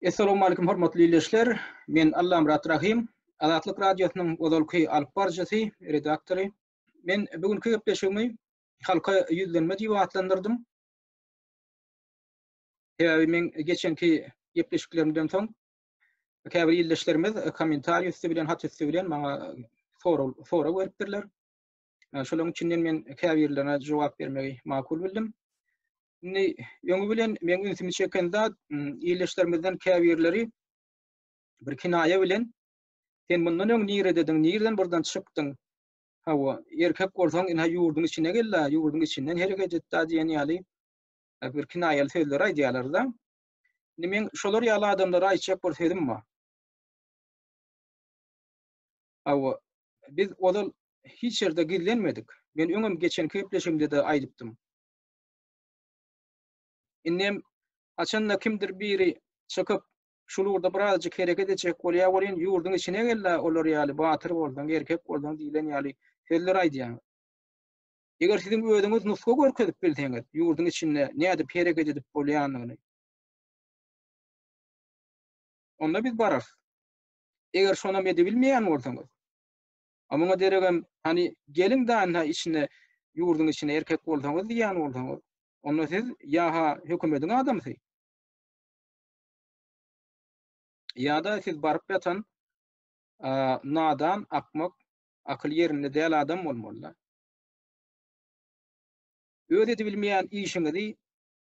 Essalamualeýkum hormatly ildeşler! Men Allamyrat Rahym, Azatlyk Radiosynyň ozalky alyp baryjysy, redaktory. Men bu günki gepleşigimi Halka ýüzlenme diýip atlandyrdym. Sebäbi meň geçenki gepleşiklerimden soň käbir ildeşlerimiz kommentariý üsti bilen, hat üsti bilen maňa sorag beripdirler. Şolaryň içinden men käbirlerine jogap bermegi makul bildim. Indi öňi bilen meň ünsümi çeken zat ildeşlerimizden käbirleri bir kinaýa bilen sen mundan öň niredediň, nireden buradan çykdyň? Hawa, erkek bolsaň, ine ýurduň içine gel-de, ýurduň içinden hereket et diýen ýaly bir kinaýaly sözler aýdýarlar-da. Indi men şolar ýaly adamlara aýtjak bir sözüm bar. Hawa, biz ozal hiç ýerde gizlenmedik. Men öňem geçen gepleşigimde-de aýdypdym. Indem haçanda kimdir biri çykyp, şul ugurda birazjyk hereket etjek bolýar welin, ýurduň içine gel-de olar ýaly batyr bolsaň, erkek bolsaň diýlen ýaly sözler aýdýaňyz. Eger siziň özüňiz nusga görkezip bilseňiz, ýurduň içinde nädip hereket edip bolýanyny, onda biz bararys. Eger şonam edibilmeýän bolsaňyz, A muňa deregem, hany, geliň dany-ha içine, ýurduň içine erkek bolsaňyz diýýän bolsaňyz, onda siz ýa-ha hökümediň adamsy, ýa-da siz baryp ýatan nadan, akmak, akyly ýerinde däl adam bolmaly-da. Öz edibilmeýän işiňizi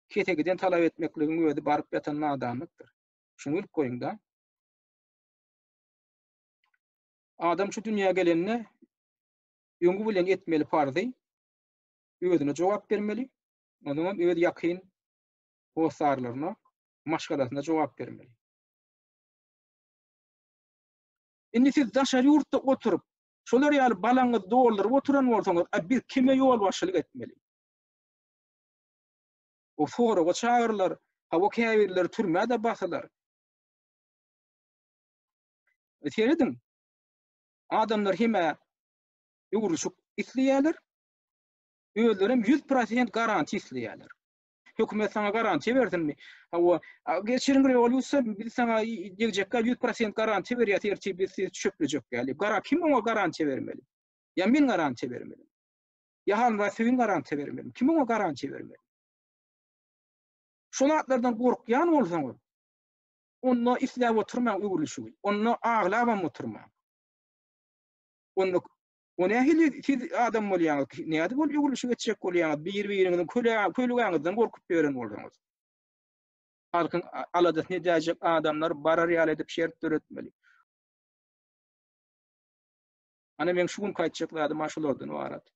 kesegiden talap etmekligiň özi baryp ýatan nadanlykdyr. Şuny bilip goýuň-da. Adam şu dünýä gelende öňi bilen etmeli parzy özüne jogap bermeli, ondan öz ýakyn hossarlaryna, maşgalasyna jogap bermeli. Indi siz daşary ýurtda oturyp, şolar ýaly balaňyzy dolduryp oturan bolsaňyz, a biz kime ýolbaşçylyk etmeli? O soraga çagyrylar, hawa käbirleri türmä-de basylar. Serediň, adamlar hemä döwrüşik isleýärler, özlerem ýüz prosent garantiýa isleýärler. Hökümet saňa garantiýa bersinmi? Hawa, geçiriň rewolýusiýa, biz saňa degjekkä ýüz prosent garantiýa berýäs, ertir biz sizi çöplejek ýaly. Gara kim oňa garantiýa bermeli? Ýa men garantiýa bermeli? Ýa Halmyrat Söýün garantiýa bermeli? Kim oňa garantiýa bermeli? Şol zatlardan gorkýan bolsaňyz, Onda isläp oturmaň öwrülişigi. Onda aglabam oturmaň. Onda O nähili siz adam bolýaňyz? Nädip ol öwrülişi geçjek bolýaňyz? Bir-biriňiziň kölügäňizden gorkup ýören bolsaňyz. Halkyň aladasyny edäýjek adamlar barar ýaly edip şert döretmeli. Ana meň şu günki aýtjak zadym şulardan ybarat.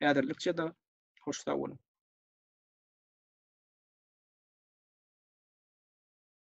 Häzirlikçe de hoş sag boluň.